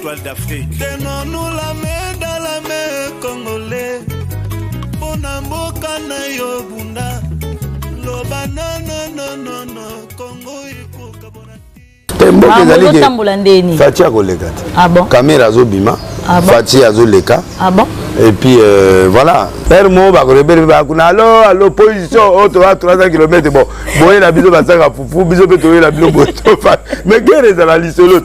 Toile d'Afrique. Tenons-nous la main dans la main, Congolais. Pona mboka na yo bunda. Loba no no no no no. Congo ikoka bonati. Mboka ah, ezali ke. Tambola ndeni. Fati akoleka te. Ah bon. Kamera azobima. Ah bon. Fati azoleka. Ah bon. et puis euh, voilà heure moko bakolobeli mpe bakuna alo alo position oyo oh, toa 300 km bon boyela biso basaka fufu biso mpe toyela bino boye mais guerre ezala lisolo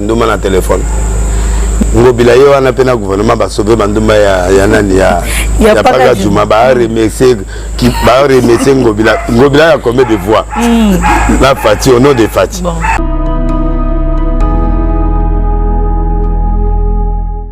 nduma na telefone ngobila ye wana mpe na gouvernement basove bandumba ya, ya nani ya, ya, ya paka juma baremercie baremercie ngobila ngobila ya combien de voix mm. na fati au nom de fati bon.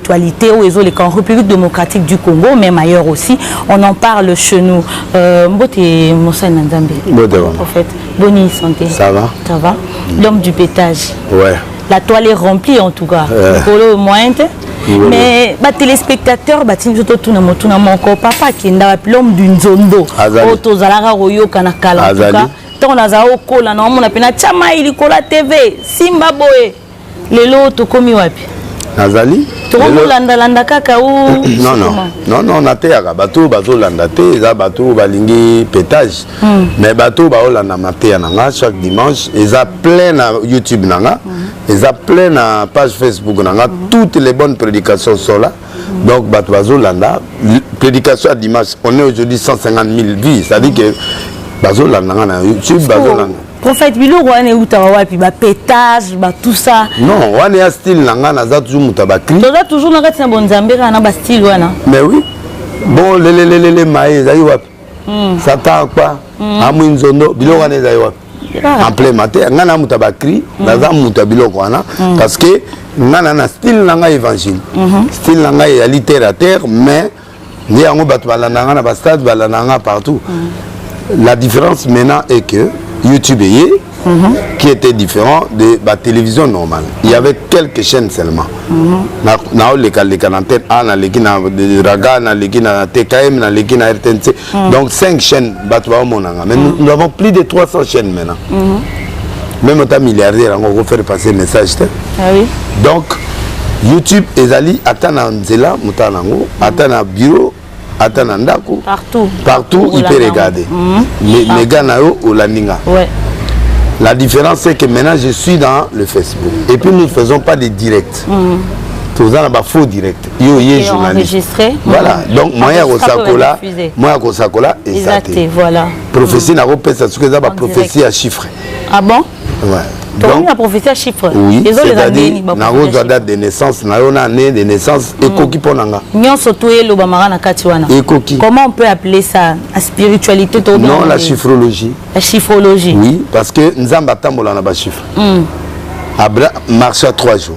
actualité oyo ezoleka en république démocratique du congo même ailleurs aussi on en parle chez nous euh, mbote mosali na nzambe prophète boni santé ça va ça va mm. l'homme du pétage ouais la toile est remplie en tout cas likolo euh. moyen te mais batelespectateur batindi biso totuna motuna moko papa akenda wapi l'homme du nzondo oyo tozalaka koyoka na kala ntango nazala okola na omona mpe natya mai likolo ya tv simba boye lelo tokomi wapi nazali tokomolandalanda kaka nono nateyaka bato oyo bazolanda te eza bato oyo balingi petage hmm. mais bato oyo baolanda mateya na nga chaque dimanche eza plein na youtube na nga hmm. eza plein na page facebook na nga hmm. toutes les bonnes prédications sont là donc bato bazolanda prédication ya dimanche on est aujourd'hui 150 000 vues c'est à dire que bazolanda nga na youtube bazolanda prophète biloko wana eutaka wapi ba pétage ba tout ça non wana ya style na ngai naza toujours moto ya bacri toza toujours na kati na bonzambe kaka na ba style wana mais oui bon lelelelele maye ezali wapi hmm. satan akpa hmm. amwi nzondo biloko wana ezali wapi ah. en plein mate ngai na moto ya bacri hmm. naza moto ya biloko wana parce que ngai na na style na ngai évangile mhm. style na ngai ezali terre à terre mais nde yango bato balanda nga na bastade balanda nga partout mm. la différence maintenant est que youtube eye mm -hmm. qui était différent de batélévision normale il y avait quelques chaînes seulement naolekaleka mm -hmm. na ntene a naleki na raga naleki na tkm naleki na rtnc mm. donc 5 chaîne bato baomonanga mais mm. nous avons plus de 300 chaîne maintenant mm -hmm. même ata milliardaire yango okofaire passer message te ah, oui. donc youtube ezali ata na nzela motala na yango mm. ata na bureau ata na ndako partout, partout il peut regarder mm -hmm. mega na yo olandi nga ouais. la différence c'est que maintenant je suis dans le facebook et puis nous ne faisons pas des directs mm -hmm. toza na bafaux direct yo oye journaliste voilà mhm. donc moyen ya kosakola moyen ya kosakola eza te voilà prophétie mhm. nakopesa soki eza baprophétie ya chiffre ah bon ouais. tokomi na prophétie ya chiffre oui, nakozwa date de naissance na yo na année de naissance mhm. ekoki mpo na nga nyonso to elobamaka na kati wana ekoki comment on peut appeler ça la spiritualité to non la chiffrologie la chiffrologie oui parce que nzambe atambola na bachiffre mm. marche à trois jours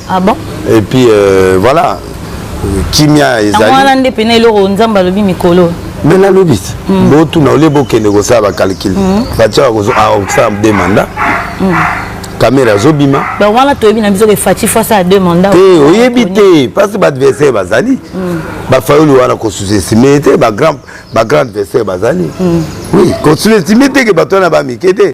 ah bon et puis euh, voilà kimia ezali wana nde pena eloko nzambe alobi mikolo me nalobi mm. botuna olie bokende kosala bacalcule mm. fatia akosala ah, de mandat mm. kamera azobima wana toyebi na biso ke faci fo asala de mandat te oyebi te parce baadversaire bazali bafayoli wana kosusestime te bagrand adversaire bazali oui kosusestime te ke bato wana bamike te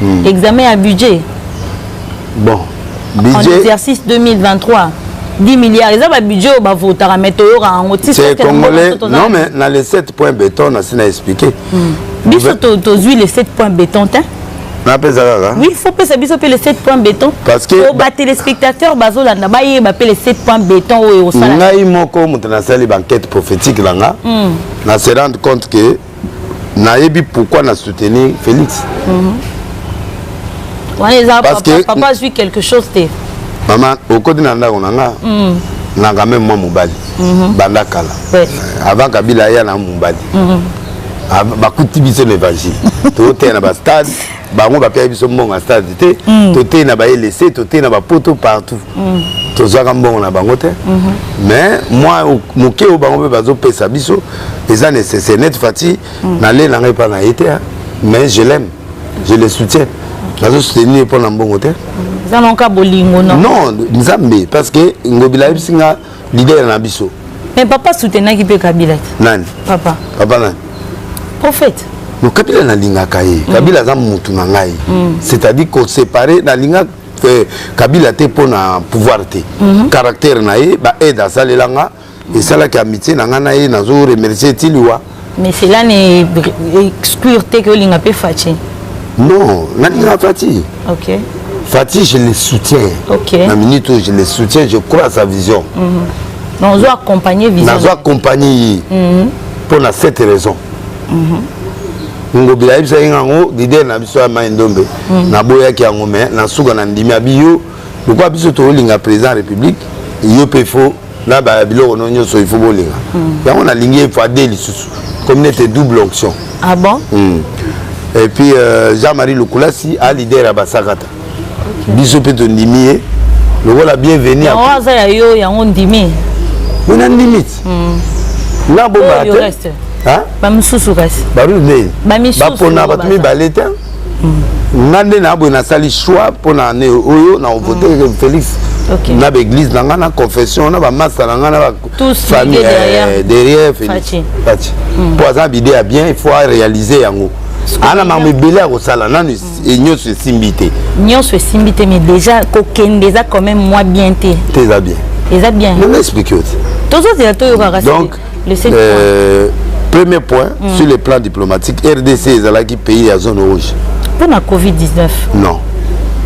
hmm. examen ya budget bon budget en exercice 2023 10 milliards eza babudget oyo bavotaka mai toyokaka yango ticongolais non mais na le 7 point béton nasi na expliqué hmm. biso tozwi le 7 point béton te napesa kaka oui faut pesa biso mpe le 7 point béton parce que po batelespectateur bazolanda bayeba mpe le 7 point béton oyo ekosala ngai moko moto nasali baenquête prophétique na nga hmm. na se rendre compte que nayebi pourquoi na soutenir félix mhm. wana eza papa azwi quelque chose te mama okoti na ndako na nga mhm. nanga meme mwa mobali mhm. banda kala eh, avant kabila aya na mobali bakuti biso na évangile toteya na bastade bango bapesa biso mbongo ya stade te mm. toteyi na baelese toteyi na bapoto partout mm. tozwaka mbongo na bango te mm-hmm. mais mwa moke oyo bango mpe bazopesa biso eza nécessaire net fati mm. nalela ngai epai na ye te mais je l'aime je le soutiens nazo soutenir ye mpo na mbongo te mm. eza nonka bolingo non nzambe parce que ngobila ayebisi nga leader na biso mais papa soutenaki mpe kabila te nani papa papa nani prophète no kabila nalingaka ye mm. kabila aza mutu na ngai mm. c'est-à-dire kosepare nalinga euh, kabila te mpo na pouvoir te mm -hmm. caractère na ye baaide asalelanga esalaki amitié na ngai na ye nazo remercier tiliwa Mais cela n'est exclure te que olinga pe Fatshi. Non, nalinga Fatshi. OK. Fatshi je le soutiens. OK. Na minute où je le soutiens, je crois à sa vision. Mm -hmm. Non, zo accompagner vision. Nazo accompagner. Mm -hmm. Pour la cette raison. Mm -hmm. ngobi ayebisaki yango lider na biso ya mai ndombe mm. naboyaki yango mai na suka na ndimi abi yo lokola biso tokolinga président ya république yo mpe fo na ba biloko no nyonso il faut bolinga mm. yango nalingi efade lisusu comme nete double onction ah bon mm. et puis euh, jean marie lukulasi a leader ya basakata okay. biso mpe tondimi ye lokola bienvenu yango aza ya yo yango ndimi mona ndimi ti mm. nga bomaka te bamosusu kasi bapona bato mibale te nga nde na boye nasali choix mpo na ane oyo na vote mm. félix okay. na baeglise na ngai na confession na bamasa na ngai na bafamille eh, derrière félix faci mm. mpo aza bide ya bien il faut aréalise yango ana makambo ebele ya kosala nanu mm. e nyonso esimbi te nyonso esimbi te mais déjà kokende eza quand même mwa bien te te eza bien eza bien nanga explike yo te tozozela toyokaka donc euh, premier point mm. sur le plan diplomatique rdc ezalaki pays ya zone rouge mpo na covid-19 non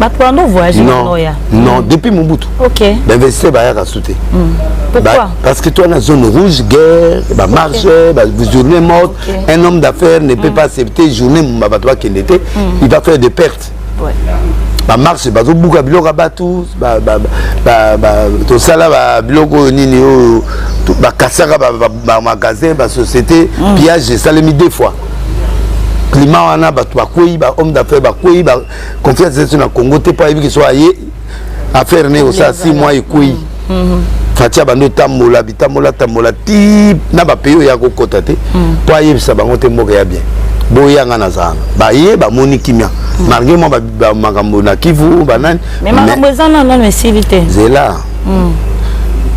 bato wana ovoyage noya non depuis mobutu okay. bainvestisseur bayaka su te mm. Pourquoi? parce que toi na zone rouge guerre bamarche okay. bajournée morte okay. un homme d'affaires ne peut mm. pas accepter journée mumba bato bakende te mm. il va faire des pertes bamarche bazobuka biloko ya bato tosala biloko oyo nini oyo bakasaka bamagasin basociété mm. pillage esalemi deux fois climat wana bato bakwei bahomme d'affaires bakwei confiance esu na congo te mpo ayebi kiso aye affaire ne osala 6 mois ekwei mhm. fati abandi otambola bitambola tambola ti na bapays oyo ya kokɔta te mpo mhm. ayebisa bango te mboka ya bien boyanga na zanga baye bamoni kimia mhm. malgre mwa makambo na kivu banani makambo eza na nano esili te zela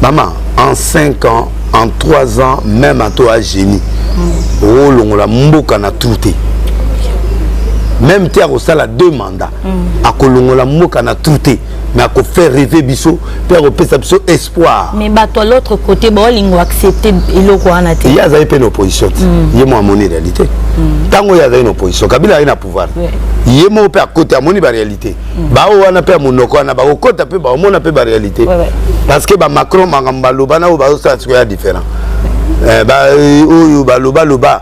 mama en 5 ans en 3 ans même ato a génie okolongola mboka na tour te même te akosala deux mandats mm. akolongola mboka na trou te mais akofaire rêver biso mpe akopesa biso espoir mais bato ya l'autre côté baolingo accepte eloko wana te ye azali mpe na opposition te mm. ye mo amoni réalité mm. ntango mm. ye azali na opposition kabila aye na pouvoir yeah. ye moko mpe akoti amoni baréalité mm. baoyo wana mpe ya monoko wana bakokota mpe bakomona mpe baréalité ouais, ouais. parce que bamacron makambo baloba na oyo bazosala sikoya différent eh, ba, euh, oyo balobaloba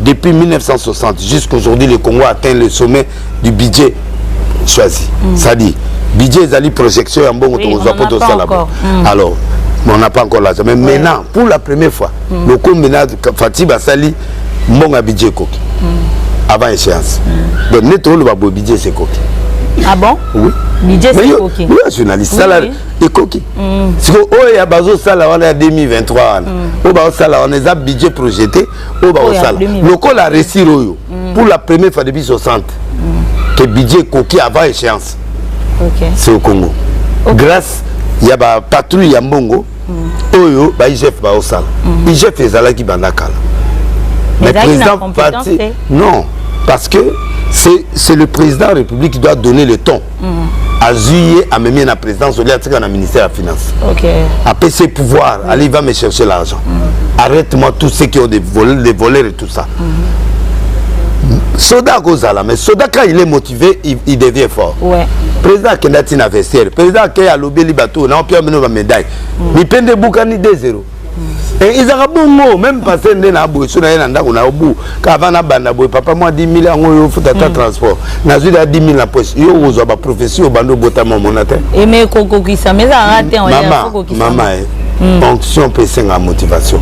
Depuis 1960 jusqu'aujourd'hui, le Congo atteint le sommet du budget choisi. Mm. Ça dit, budget ezali projection ya mbongo oui, tokozwa mpo tosala bo mm. alors on n'a pas encore l'argent mais ouais. maintenant pour la première fois mm. lokombe na fati basali mbongo ya budget ekoki mm. avant échéance mm. donc neti oloba boye budget sekoki ah bon oui budget sekoki oui journaliste sala oui. ekoki mm. siko oyo ya bazosala wana ya 2023 wana mm. oyo bazosala wana eza budget projeté oyo bakosala lokola resir oyo mm. pour la première fois depuis 60 mm. ke budget ekoki avant échéance okay. c'est au congo okay. grâce ya bapatrouille ya mbongo mm. oyo baigf baosala mm. igf ezalaki banda kala mais président parti non parce que c'est le président de la république qui doit donner le temps mm. azui ye amemi ye na présidence olie atika na ministère ya finance okay. apesi ye pouvoir mm. allez va me chercher l'argent mm. arrête moi tout ce qui ont des, vol des voleurs et tout ça mm -hmm. soda akozala mais soda quand il est motivé il, il devient fort ouais. président akenda ntina vestiaire président akei alobeli bato na opia bino bamédaille mm. mipende ebukani 2 0 Eh, ezalaka bongo meme pase nde na boye so naye na ndako na yo bu kava na banda boye papa mwa 10 000 yango yo ofuta ata mm. transport nazwi da 10 000 na poche yo okozwa baprofesi oyo banda obotama omona te eme eh, kokokisa ma ezalaka te mama eh, mm. onction mpe esengaa motivation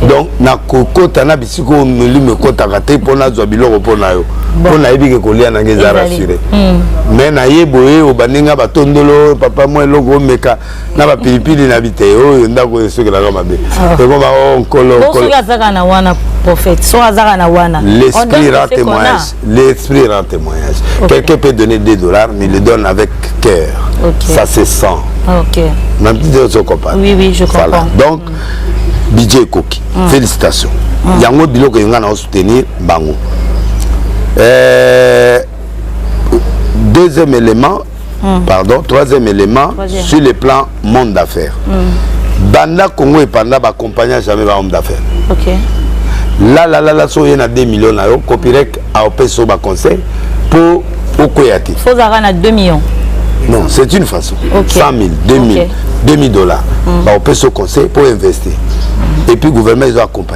donc nakokota na bisika oyo molimo ekotaka te mpo nazwa biloko mpo na yo mpo nayebi ke kolia nange eza rassure mm. mais naye boye obandi nga batondolo papa mwa eloko omeka na bapilipili na bitei oyo ndako oyo esokelaka mabe oh. ekoma o oh, nkolosoki azaka na wana prophète soki azaka na wana l'esprit rend témoignage l'esprit rend témoignage quelqu'un peut donner 2 dollars mais il le donne avec cœur okay. ça se sent okay. même si ozo comprendre oui, oui, je comprends. voilà donc mm. budget ekoki mm. félicitations mm. yango biloko eyo ngai na osoutenir bango euh, deuxième élément mm. pardon troisième élément troisième. sur le plan monde d'affaires mm. banda congo epanda baaccompagna jamais bahomme d'affaires okay. lalalala so oye na 2 million na yo copirec aopesa yo baconseil mpo okweya te ozalaka na 2 millions non c'est une façon okay. 100 000 2000 okay. 2000 dollars mm. baopesa yo conseil mpo investir mm. et puis gouvernement ezo accompagne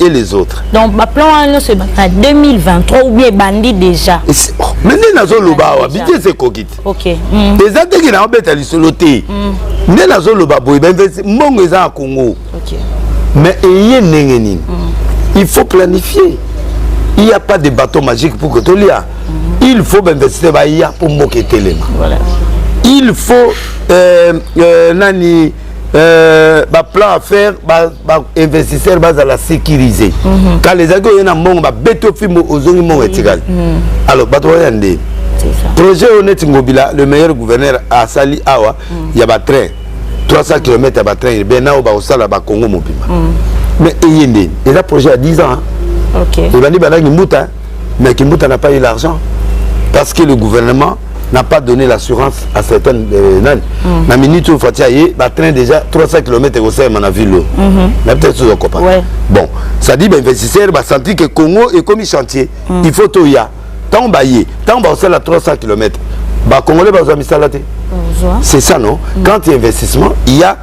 et les autres donc baplan wana nyonso ebanda 2023 ou bien ebandi déjà oh, mais nde nazoloba awa bidies ekoki te mm. eza ndenge naobeta lisolo te mm. nde nazoloba boye bainvesti mbongo eza ya congo mais eye ndenge nini mm. il faut planifier il n'y a pas de bateau magique pour que tolia il faut bainvestisseur baya mpo mboka etelema il faut euh, euh, nani Euh, baplan à faire bainvestisseur ba bazala sécurise mm -hmm. kala ezalaki oye na mbongo babeti ofimbo ozongi mbongo etikali mm -hmm. alors bato baya nde projet oyo neti ngobila le meilleur gouverneur asali awa mm -hmm. ya batrain 300 km ya batrain urbain na oyo bakosala bakongo mobimba mm -hmm. mais eye nde eza projet ya 10 ans okay. ebandi bandaki mbuta Mais Kimbuta n'a pas eu l'argent parce que le gouvernement n'a pas donné l'assurance à certaines euh, nani mm. na minute oyo fati aye batrain déjà 300 km ekosalema na ville oyo mm -hmm. na peut-être ozo kopa ouais. bon ça dit bainvestisseur basentir que congo ekomi chantier mm. il faut toya ntango baye ntango bakosala 300 km bacongolais bazwa misala te c'est ça non mm. quand il y a investissement il y a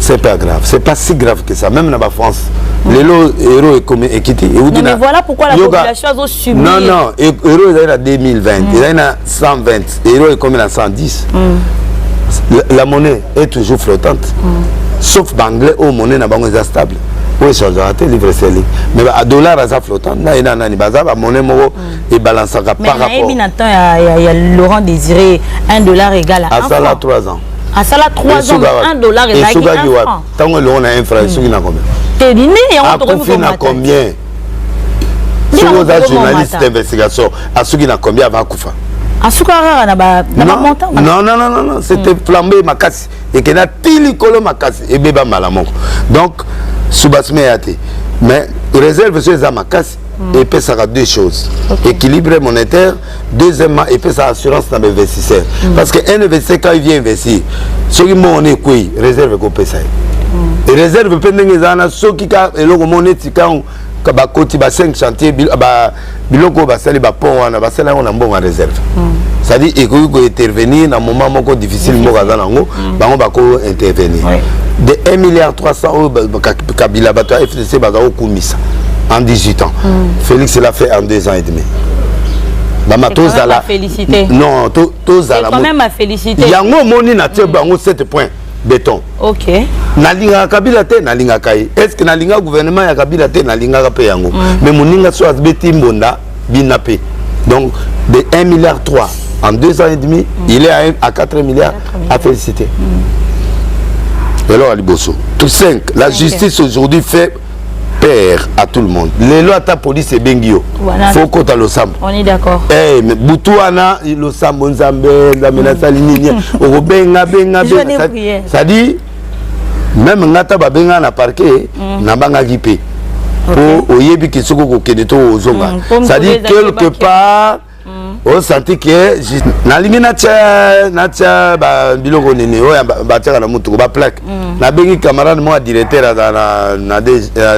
c'est pas grave c'est pas si grave que ça même na ba France lelo euro ekomi ekiti euti na voilà pourquoi la population azo subir non non e, euro ezali na 2020 mm. ezali na 120 euro ekomi na 110 mm. la, la monnaie est toujours flottante mm. sauf banglais oyo monnaie na bango eza stable oyo echangeaka te livre seli mais dollar aza flottant na ye na nani baza bamonnaie moko mm. ebalansaka par rapport nayebi na temps ya laurent désiré 1 dollar égale asala 3 ans asala 3 ans mais 1 dollar ezalaki 1 franc ntango elongo na 1 franc esuki na combien te nini yango tokoki komata na combien soki oza journaliste d'investigation asuki na combien ava akufa asukaka kaka na bamontant non non non non c'était hmm. flambe makasi ekenda ti likolo makasi ebeba mbala moko donc subasime ya te mais réserve so eza makasi mm. epesaka deux choses okay. équilibre monétaire deuxièmement epesaka assurance na bainvestisseur mm. parce que un investisseur quand il vient investir soki mbongo na ekwei réserve ekopesa ye mm. réserve mpe ndenge ezala na soki ka eloko moko neti kango bakoti ba 5 chantier biloko oyo basali bapont wana basali yango na mbongo ya réserve mm. c'est-à-dire ekoki kointervenir na moment moko difficile mboka aza nango mm. bango bako intervenir de 1 milliard 300 oyo kabila bato ya se baza kokumisa en 18 ans mm. félix l'a fait en 2 ans et demi mama tozala non tozala yango omoni na tie mm. bango 7 point béton okay. nalingaka kabila te nalingaka ye est ce que nalingaka gouvernement ya kabila te nalingaka mpe yango mm. mais moninga so abeti mbonda bina pe donc de 1 milliard 3 en 2 ans et demi mm. il est à, 1, à 4 milliards à féliciter mm. eloko ya liboso tout 5 la justice aujourd'hui fait père à tout le monde lelo ata police ebengi yo fo okota losambo eh, butu wana losambo nzambe nzambe nasali nini okobenga benga benga cestadire meme nga ata babengaa na parquet mm. nabangaki mpe mpo okay. oyebi ke soki okokende to ozonga mm, cestadire quelque part mm. osanti oh, ke nalingi natya natya biloko nini oyo batyaka na motuku baplaque mm. nabengi camarade moko ya directeur aza na, na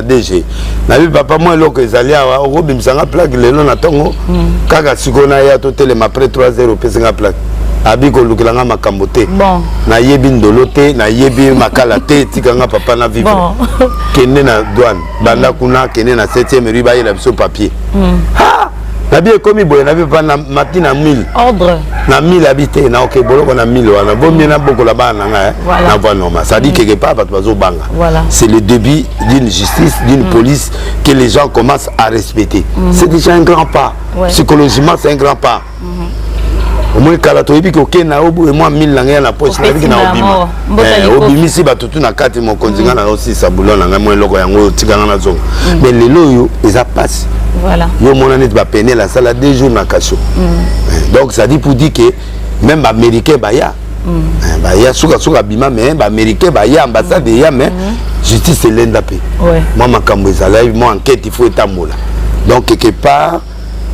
dg nayebi papa mwa eloko ezali awa okobimisa nga plaque lelo na ntongo mm. kaka sikoyo naya totelema après 3 heures opesi nga plaque abi kolukela nga makambo te bon. nayebi ndolo te nayebi makala te tika nga papa na vivre bon. kende na douane banda mm. kuna kende na 7e rue bayela biso papier mm. ha nabi ekomi boye nabi papa na mati na 1000 ordre na 1000 abi te na oke boloko na 1000 wana bomie na bokola bana na ngai eh? voilà. na voie normale ça dit mm. quelque part bato bazobanga voilà. c'est le début d'une justice d'une mm. police que les gens commencent à respecter mm. c'est déjà un grand pas ouais. psychologiquement c'est un grand pas omoni kala toyebi koke na yo boye mwa mille na ngai ya na poche nayebi na obima eh, obimisi bato tu na kati mokonzi ngai na yo sisa bulo na ngai mwa eloko yango oyo tika ngai nazonga mm. mais lelo oyo eza mpasi yo omona neti bapenele asala deux jours na kasho mm. eh, donc ça dit pour dire que même baaméricain baya mm. eh, baya sukasuka abima mais baaméricain baya ambassade eya mais justice elenda mpe mwa makambo ezalaki mwa enquête il faut etambola donc quelque part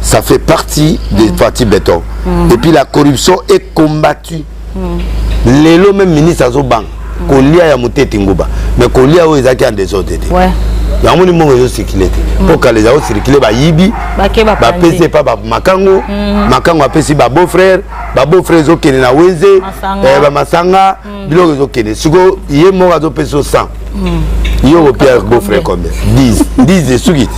Ça fait partie mmh. des partis béton. Mmh. Et puis la corruption est combattue. Mmh. Lelo même ministre Azobang, mmh. Kolia ya Mutete Nguba, mais Kolia oyo ezaki en désordre. Ouais. yango ni mbongo ezocircule te mm. mpo kala ezali ocircule bayibi bapesi epa makango mm. makango apesi babeau frère babeau frère ezokende na wenze bamasanga eh, mm. biloko ezokende sikoyo ye moko azopesa yo 100 mm. ye okopia bofre combien 10 10 esuki te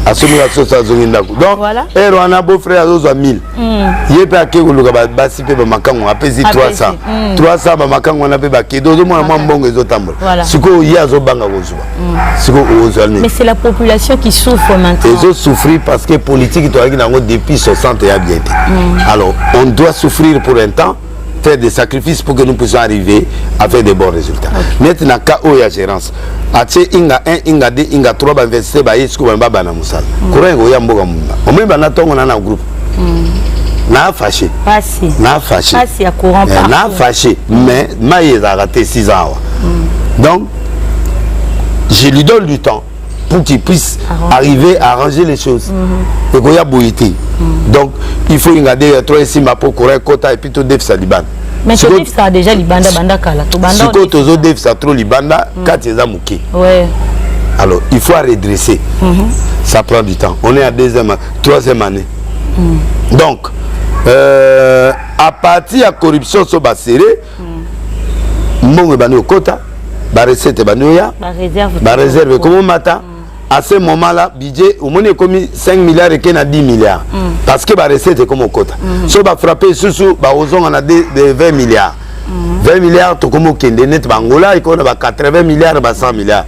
asomika soso azongi ndako donc ere wana bofre azozwa 1000 mm. ye mpe ake koluka basi mpe bamakango apesi 300 300 bamakango wana mpe bakede ozomona mwa mbongo ezotambola sikoyo ye azobanga kozwa sikoyo okozwa nini ezosouffrir parce que politique toyaki na yango depuis 60 ya bien te alors on doit souffrir pour un temps faire des sacrifices pour que nous puissions arriver à faire des bons résultats. Okay. Net na ka oya gérance. Atie inga 1, inga 2, inga 3 ba investir ba yesko ba baba na musala. Mm. Courant oya mboga munda. Omwe ba na tongo na na groupe. Mm. Na fâché. Passé. Na fâché. Passé à courant eh, pas. Na fâché, mais maïs a raté 6 ans. Mm. Donc je lui donne du temps. pour qu'il puisse Arranger. arriver à arranger les choses mm-hmm. ekoya boye te mm-hmm. donc il faut inga de ya trois esimba mpo courant ekota epuis todefisa libanda sikoyo tozodefisa trop libanda mm. kati eza moke alors il faut redresser mm-hmm. ça prend du temps on est à deuxième troisième année mm. donc euh, à partir ya corruption so basere mbongo ebandi kokota barecette ebandi oya bareserve ekomomata à ce moment là budget omoni ekomi 5 milliards eke na 10 milliards mm. parce que barecette ekomi okota mm. so bafrappe lisusu bakozonga na 20 milliards mm. 20 milliards tokomi okende neti bangola ekomi na ba 80 milliards ba 100 milliards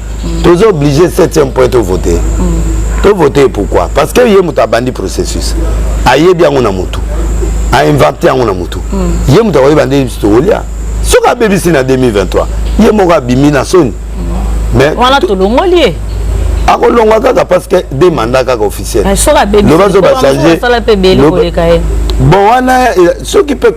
mm. toza oblige 7e point tovote mm. tovote pourquoi parce que ye moto abandi processus ayebi yango na motu ainvente yango na motu mm. ye moto akoyeba nde tokolia soki abebisi na 2023 ye moko abimi na soni mais wana tolongoli ye akolongwa kaka parce que de mandat kaka officiel loba zo bachange bon wana soki mpe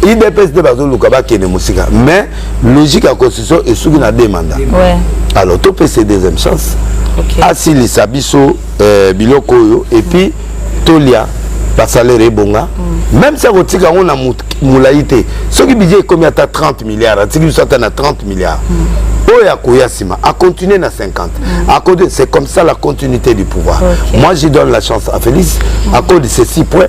idps nde bazoluka bakende mosika mais logique ya constitution esuki na deux mandat ouais. alors topesa deuxième chance okay. asilisa biso euh, biloko oyo epuis mm. tolia basalere ebonga mm. même si akotika yango na molai te soki budget ekomi ata 30 milliards atiki biso ata na 30 milliards mm. oyo akoya nsima acontinue na 50 mm. akode c'est comme ça la continuité du pouvoir okay. moi je donne la chance à félix mm. akode ceci point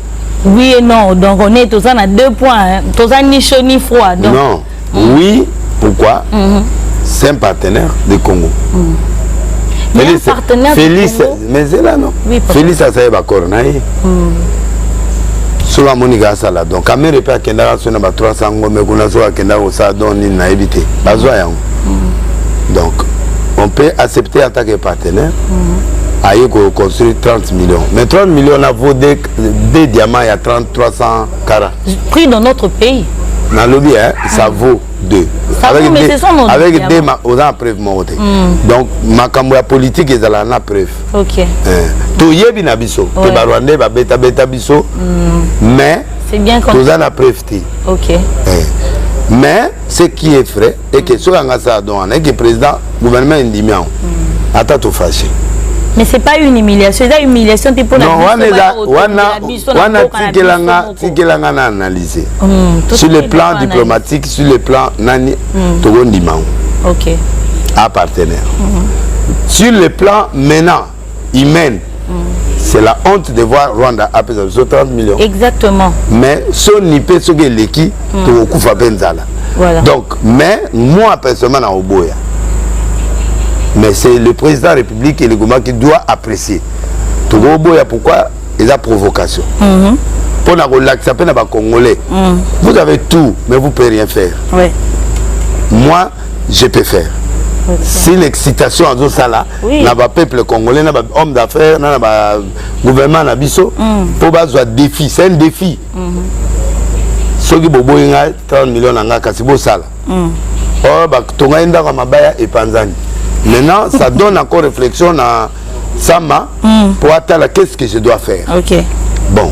Oui et non, donc on est tous à deux points, hein. tous à ni chaud ni froid. Donc... Non, mm. oui, pourquoi mm -hmm. C'est un partenaire du Congo. Mm. Mais Félix, un partenaire Félix, du Congo Mais c'est là, non oui, Félix a saï bakor, naï. soki amoni kaka asala don kamere mpe akendaka so na ba 300 ngombe kuna soki akendaka kosala don nini nayebi te bazwa yango mm. donc on peut accepter en tant que partenaire mm. aye koconstruire 30 millions mais 30 millions na vaut deux, deux diamants ya 30 300 cara prix dans notre pays nalobi hein, ça mm. vaut deux ça avec vaut, mais deux, sont avec deux ma, oza na preuve moko te mm. donc makambo ya politique ezalaka na preuve okay. eh, toyebi na biso ouais. te barwandais babetabeta biso mm. mais toza na preuve te okay. eh, mais ce qui est vrai et que soki anga sala don wana et que président gouvernement endimi yango mm. ata tofashe mais c'est pas une humiliation eza humiliation te mpona wana tikelanga tikelanga na analyse mm, sur le plan diplomatique sur le plan nani mm. tokondima yango ok a partenaire mm-hmm. sur le plan maintenant humaine c'est la honte de voir rwanda apesa biso 30 millions exactement mais soni mpe soki eleki mm. tokokufa mpe nzala voilà. donc mais moi personnellement na oboya mais c'est le président de la république et le gouvernement qui doit apprécier tokoboya pourquoi eza provocation mm -hmm. mpo na kolakisa mpe na bacongolais mm. vous avez tout mais vous pouvez rien faire ouais. moi je peux faire okay. si l'excitation azosala oui. na bapeuple congolais na bahomme d'affaires na na bagouvernement na biso mpo mm. bazwa défi c'est un défi mm -hmm. soki boboyi ngai 30 million na ngai kasi bosala mm. or batonga ye ndako ya mabaya epanzani maintenant ça donne encore réflexion na sama mm. mpo atala qu'est-ce que je dois faire okay. bon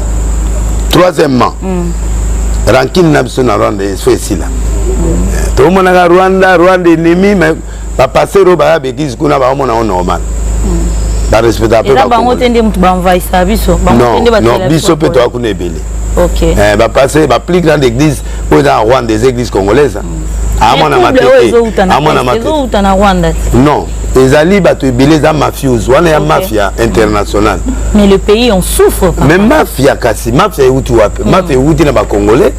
troisièmement mm. rankine na biso na rwanda eso esila mm. tomonaka rwanda rwanda enemi mais ba pasteur oyo baya beglise kuna baomona o normal hmm. barespecta mpe bango te nde moto baenvahisa biso non biso mpe toya kuna ebele bapase eh, ba plus grande église oyo eza na rwanda eza église congolaise hmm. amona mateteamona matete non ezali bato ebele eza mafiose wana ya mafia internationale mais le pays en souffre mais mafia kasi mafia euti wapi hmm. mafia euti na bacongolais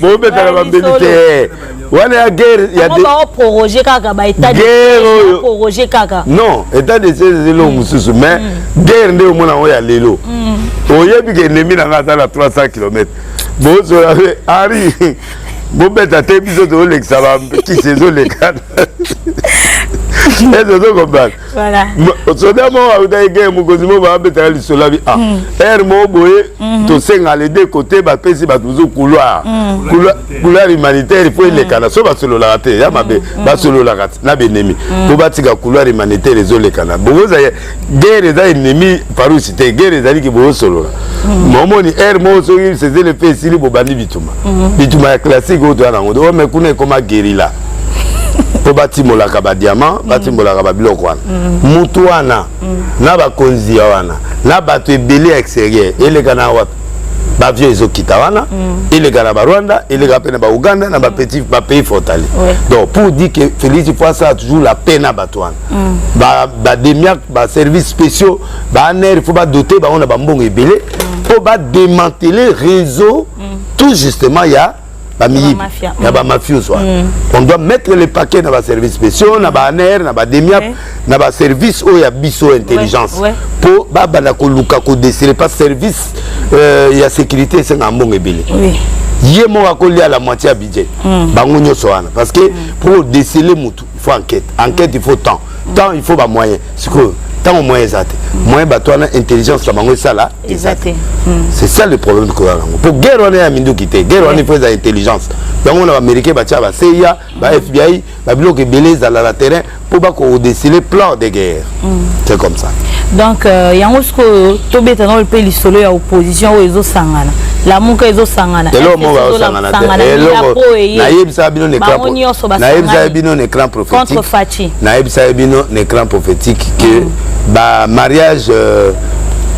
bobetaka bambeli te wana ya guerre ya proroge kaka ba état guerre oyo proroge kaka non état de siège ezeli oyo mosusu mais mm. guerre nde omona yango ya lelo mm. oyebi ke enemi na ngai aza na 300 km bozola pe ari bobeta te biso tozolekisa bakisi ezoleka eze ozokombana Voilà. soda moko autaki ke mokonzi moko baabetaka lisolo abi ah hmm. heure moko boye hmm. tosenga les deux côté bapesi bato mosusu couloir hmm. couloir humanitaire mpo elekana so basololaka te ya mabe basololaka na benemi mpo batika couloir humanitaire ezolekana bokoza guerre eza ennemi farousi te guerre ezaliki boosolola momoni heure moko soki sezele mpe esili bobandi bituma bituma ya classique oyo toya nango omekuna ekoma gerila mpo batimolaka badiama mm. batimolaka babiloko wana mm. mutu wana mm. na bakonzi ya wana na bato ebele ya exterieur eleka na wapi bavio ezokita wana eleka na barwanda eleka mpe na bauganda na bapays frontalier donc pour dire que félix faut asala toujours la paix na bato wana bademiac baservice spéciaux baaner il faut badote bango na bambongo ebele mpo bademantele réseau tout justement ya bamiyibi na bamafios wana mm. on doit mettre le paquet na baservice spéciaux na baaner na bademiap na baservice oyo ya biso intelligence mpo babanda koluka kodesire pa service euh, ya sécurité esengaka mbongo ebele ye moko akolia la moitié ya budget mm. bango nyonso wana parce que mm. mpo odesele motu il faut enquête enquête il faut temps temps il faut bamoyen sikoyo ntango moyen eza te moyen bato wana intelligence na bango esala eza te c'est ça le problème koya yango mpo guerre wana ya minduki te guerre wana ifo eza intelligence yango na baaméricain batya baseya ba fbi babiloko ebele ezala na terrain mpo bakodesile plan de guerre mm. c'est comme ça donc euh, yango sikoyo tobeta nao mpe lisolo ya opposition oyo ezosangana lamuka ezosangana eloko moko bazosangana te eloko nayebisaka bino nayebisaka bino na écran prophétique nayebisaka bino na écran prophétique que mm. ba mariage euh,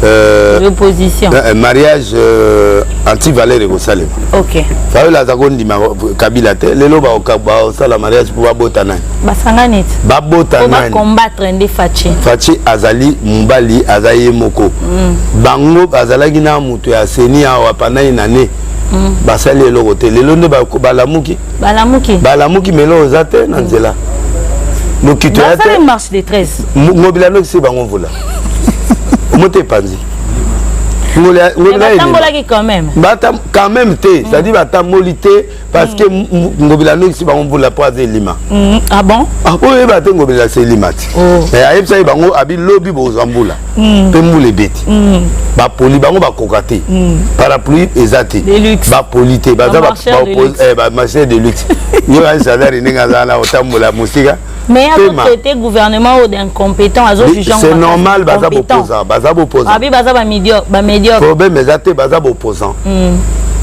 Euh, l'opposition euh, euh, mariage euh, anti valeur ekosalema ok fayolo aza kondima kabila te lelo baosala mariage mpo babota nani basanga neti babota nani combattre nde faci faci azali mobali aza ye moko mm. bango bazalaki na moto ya seni awa panai na ne mm. basali eloko te lelo nde balamuki balamuki balamuki melo oza te na mm. nzela mm. lokito ya te marche de 13 ngobila nokisi bango mvula moto epanzi ngobila ngobila quand même quand même te c'est à dire batamboli te parce que mm. ngobila alongisi bango mvula mpo aza elima mm. ah bon ah, oyo oyeba te ngobila se elima ti oh. mais ayebisa ye bango abi lobi bokozwa mbula mm. mpe mbula ebeti bapoli bango bakoka te parapluie eza te bapoli te baza bamarcheur eh, de luxe yo asadari ndenge aza na otambola mosika mais azo traité gouvernement oyo d'incompétent azo juge c'est normal baza bopposant baza bopposant abi baza ba médiocre ba médiocre problème eza te baza bopposant mm.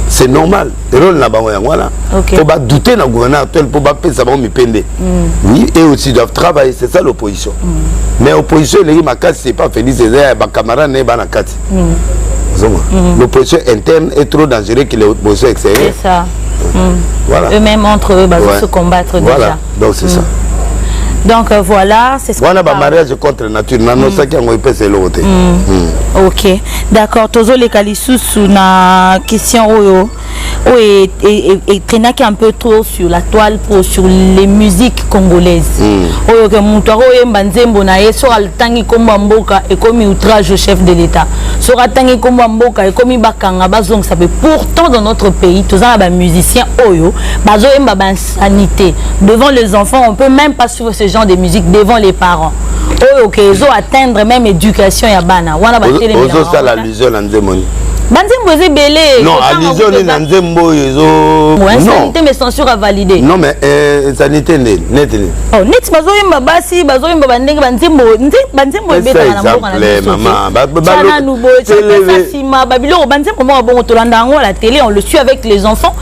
c'est normal rôle na bango yango wana okay. faut badouter na gouvernement actuel mpo bapesa bango mipende mm. oui et aussi doivent travailler c'est ça l'opposition mm. mais opposition eleki makasi c'est pas félix eza ya bacamarade na ye bana kati mm. ozonga mm. l'opposition interne est trop dangereux que l'opposition extérieure c'est ça mm. voilà. eux-mêmes entre eux bazo ouais. se combattre voilà. déjà donc c'est ça mm. donc euh, voilà c'est ce wana ba mariage contre nature na no saki yango epesa eloko te ok d'accord tozoleka lisusu na question oyo oyo etrainaki un peu trop sur la toile po sur les musiques congolaises mm. oyo ke moto akoyemba nzembo na ye soki atangi nkombo ya mboka ekomi outrage au chef de l'état soki atangi nkombo ya mboka ekomi bakanga bazongisa mpe pourtant dans notre pays toza na bamusicien oyo bazoyemba ba sanite devant les enfants on peut même pas suivre ce genre de musique devant les parents oyo oh, okay, ezo atteindre même éducation ya bana wana batelemiozosala allusion na nzembo nini banzembo eza ebele non allusion nini na nzembo oyo ezosanité mais censure avalide non mais euh, sanité nde neti nini oh, neti bazoyemba basi bazoyemba bandenge banzembo banzembo ebetaka na mboka na bisocananu boyecanasa nsima babiloko banzembo moko bongo tolanda yango na télé on le suit avec les enfants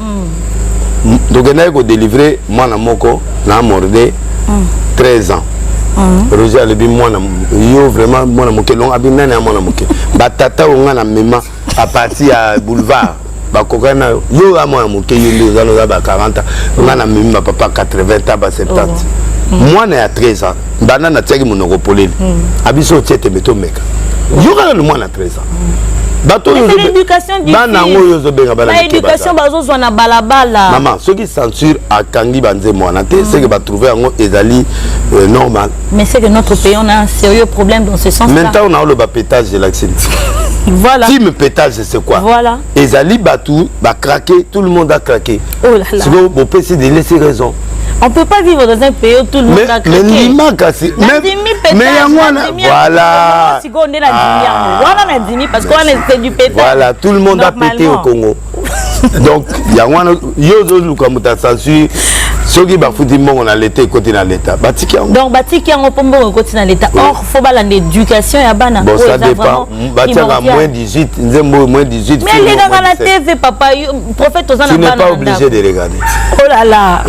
mm. tokendaki kodelivre mwana moko na morde mm. 13 ans mm. roger alobi mwana yo vraiment mwana moke longo abi nani ya mwana moke batata oyo ngai na mema a partir ya boulevard bakokani na yo yo ya mwana moke yo nde oza noza ba 40 ans ngai na memi bapapa 80 ans ba 70 oh. mm. mwana ya 13 ans banda natiaki monoko polele mm. abiso otie tembe tomeka yokana na mwana 13 bato oyo bana yango oyo ozobenga banaéducation bazozwa na balabala mama soki censure akangi banzembo wana te mm. seke batrouve yango ezali euh, normal mais c'est que notre pays on a un sérieux problème dans ce sens là maintenant on a le pétage de la voilà. Tim pétage, c'est quoi Voilà. ezali bato ba craquer tout le monde a craquer oh là là sikoyo bopesi de laisser raison on peut pas vivre dans un pays où tout le monde a craqué mais ndima kasi mais yango wana voilà sikoyo nde nadimi yango wana nadimi parce que wana c'est du pétage voilà tout le monde a pété au Congo donc yango wana yo ozoluka moto asensure soki bafuti mbongo na leta ekoti na leta batiki yango donc batiki yango mpo mbongo ekoti na leta or faut balanda éducation ya bana bon, ça dépend batiaka moins 18 nzembo moins 18 mais alekaka na tv papa prophète oza na bana pas obligé de regarder oh là là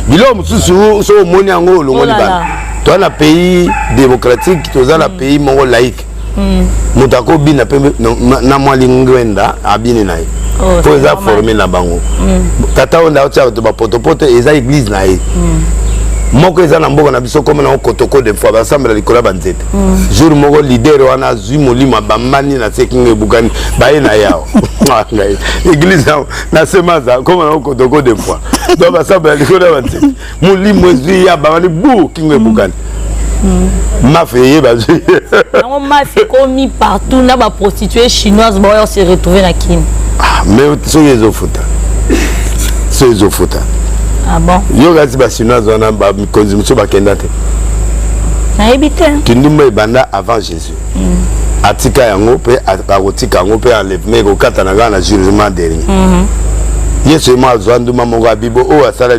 biloko mosusu so omoni yango olongoli oh bana toza na pays démocratique toza na mm. pays moko laïque mm. moto akobina mpe na mwa lingwenda abini na ye oh, oyo eza forme na bango mm. tata oyo ndako tiaka to bapotopoto eza eglise na ye mm. moko eza na mboka na biso koma nango kotoko de fois basambela likolo ya banzete mm. jour moko lider wana azwi molimo abambani na se kinga ebukani baye na yao ah, eglise yango na semaza koma nango kotoko de fois donc basambela likolo ya banzete molimo ezwi ya babani bu kingo ebukani mm. mafe eyeba zwi yango mafe ekomi partout na baprostitue chinoise baoyo se retrouve na kini ah, mais soki ezofuta soki ezofuta ah yo kasi bachinoise wana mikonzi mosusu bakenda te nayebi te kindumba ebanda avant jésus mm. atika yango mpe akotika yango mpe enlèvement ekokatana kaka na jugement dernier mm -hmm. yesu ye moko azwa nduma moko ya bibo oyo asala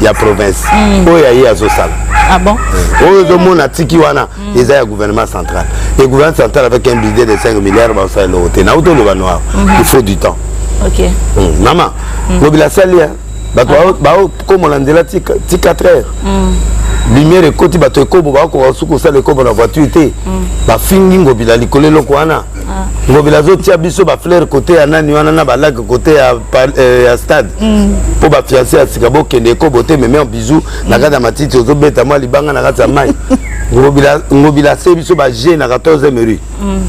ya province mm. oyo ya ye azosala ah bon? Eh, oyo ozomona tiki wana mm. eza ya gouvernement central et gouvernement central avec un budget de 5 milliards baosala eloko te nauti oloba no awa mm-hmm. il faut du temps okay. mm. mama mm. lobela asali bato ah. baokomola nzela ti 4 heures mm. lumière ekoti bato ekobo bakoka suku osala ekobo na voiture te mm. bafingi ngobila likolo eloko wana Ah. ngobila azotia biso bafleur kote ya nani wana na balake kote ya, eh, ya stade mpo mm. bafiance ya sika bokende ekobo te meme bizu mm. na kati ya matiti ozobeta mwa libanga na kati ya mai ngobila ase biso baje na 14 rue mm.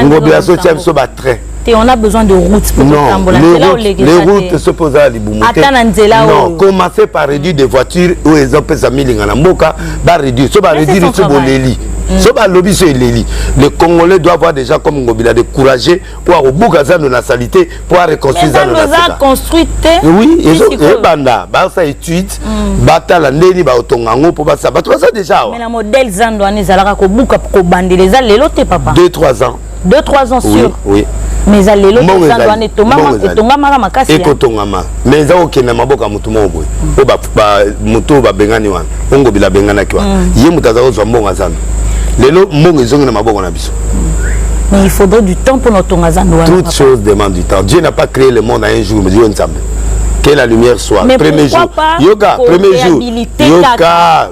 ngobila azotia biso batrain te on a besoin de route pour kotambola nzela olekisa te les routes se posa libumu te ata na nzela oyo non commencer par réduire des voitures oyo ezopesa milinga na mboka ba réduire so ba réduire biso boleli mm. so balobi so eleli le congolais doit avoir déjà comme ngobila de courageux oyo akobuka zando na salite mpo areconstruire zando na sika oui ebanda basala étude mm. batala ndenge nini baotonga yango mpo basala bato baza déjà awa modèle zando wana ezalaka kobuka kobandela eza lelo te papa 2 3 ans 2 3 ans sur oui mais eza lelo eza wana etongama etongama na makasi eko tongama mais eza okenda maboko ya mutu moko boye po ba ba mutu ba bengani wana ongo bila bengana ki wana mm. ye mutu aza kozwa mbongo azana lelo mbongo ezongi na maboko na biso mais il faudrait du temps pour notre tonga zando wana toute chose demande du temps Dieu n'a pas créé le monde en un jour mais Dieu ensemble que la lumière soit mais premier jour yoga premier jour yoga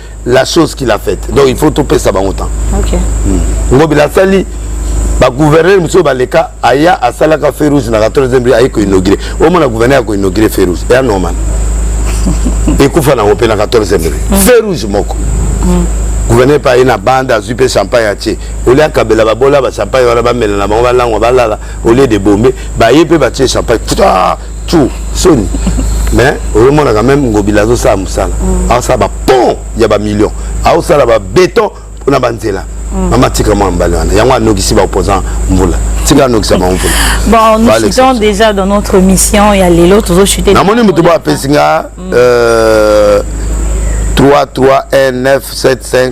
la chose qu'il a faite donc il faut topesa bango temps okay. mm. ngobila asali bagouverneur mosusu baleka aya asalaka feu rouge na 14 bri aye koinaugure omona gouverneur ya koinaugure feu rouge eya normal ekufa nango mpe na 14 bri mm. feu rouge moko mm. gouverneur mpe aye na banda azwi mpe champagne atie olie akabela babola bachampagne wana bamela na bango balangwa balala olie de bombe baye mpe batie champagne tu soni mais oyomonaka meme ngobila azosala mosala mm. aosala bapont ya bamillion aosala babeton mpona banzela mm. mama tika mwa mbali wana yango anokisi baopposant mvula tika anokisa bango mvula bon nous chutons déjà dans notre mission ya lelo tozochute namoni moto bo apesi nga 3 3 1 9 7 5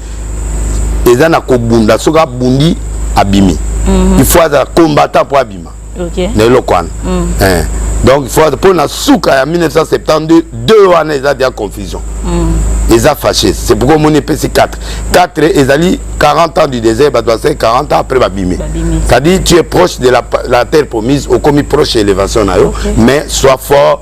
eza na kobunda soki abundi abimi mhm. il faut azala combattant mpo abima na eloko wana mhm. eh. donc faut mpo na suka ya 1972 2 wana eza deya confusion mhm. eza fâché c'est pourquoi omoni epesi 4 4 ezali 40 ans du désert bato basali 40 ans après babimi c'est-à-dire tu es proche de la, la terre promise okomi proche ya élévation na yo okay. mais soit fort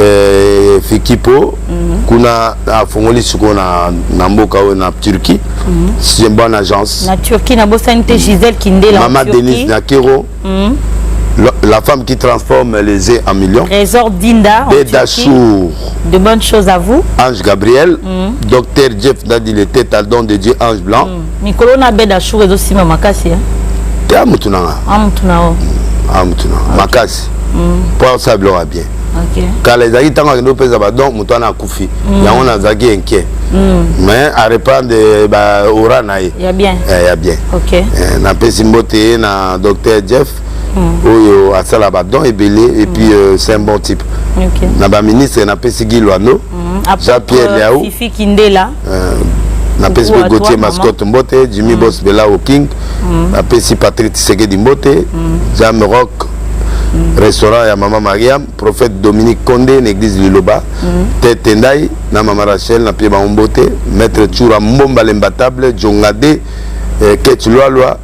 eh, fikipo mm -hmm. kuna afongoli sikoyo na, na mboka oyo na turquie mm -hmm. c'est une bonne agence na turquie nabosani te gisele kindela mama denise nakero mm -hmm. La, la, femme qui transforme les œufs en millions. Trésor Dinda. Bedachour. De bonnes choses à vous. Ange Gabriel. Mm. Docteur Jeff Dadi, le tête à don de Dieu, Ange Blanc. Mm. mikolo na bed achour ezosimba makasi ya te amutu na nga amutu na o amutu na nga makasi mpo mm. asala biloko ya bien kala ezalaki ntango akende opesa badon moto wana akufi mm. yango nazalaki inquiet mm. mais arepandre baora na ye ya bien eh, eh, napesi mbote ye na docteur jeff oyo asala badon ebele epuis euh, c'est un bon type na baministre napesi gilwano jean pierre liau napesi mpe gautier mascotte mbote jimmy mm. bos belao king mm. napesi patrick tisekedi mbote mm. jam rock mm. restaurant ya mama mariam prophète dominique conde na église liloba mm. tete ndai na mama rachel na pie bango mbote maître tsura mbomba lembatable jongade eh, kech lwalwa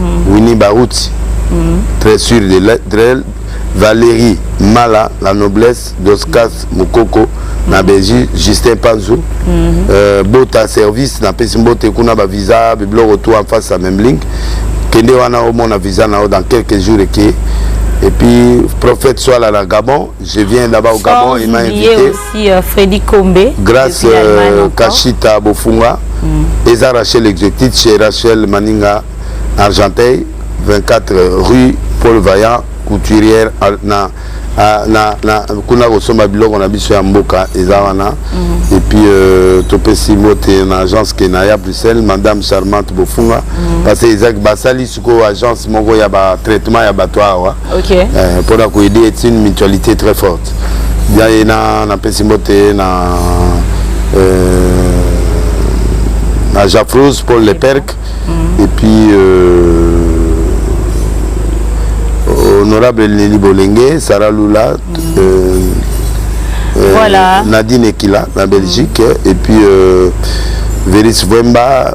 mm. Winnie Baruti mm. très sûr de l'être Valérie Mala la noblesse d'Oscas mm. Mukoko mm. na Belgique Justin Panzo mm -hmm. euh, bota service na pesi mbote kuna ba visa bibloko tout en face à même link kende wana omona visa na yo dans quelques jours eke et puis prophète soit là na Gabon Je viens là-bas au Gabon, il m'a invité. aussi euh, Freddy Kombe. Grâce euh, Kashita Bofunga. Mm. Et ça, Rachel Exotit chez Rachel Maninga, Argenteuil, euh, 24 rue Paul Vaillant, couturière na na na kuna kosomba biloko na biso ya mboka eza wana mm. et puis euh, topesi mbote na agence kenaya bruxelles madame charmante bofunga mm. parce que ezaki basali sikoyo agence moko ya ba traitement ya bato awa okay. eh, mpo na koaide est une mutualité très forte bia ye na napesi mbote na euh, na jafrose paul le perk mm -hmm. et puis euh, honorable leli bolenge sara lula mm -hmm. euh, euh, voilà. nadine ekila na belgique mm -hmm. et puis euh, veris vemba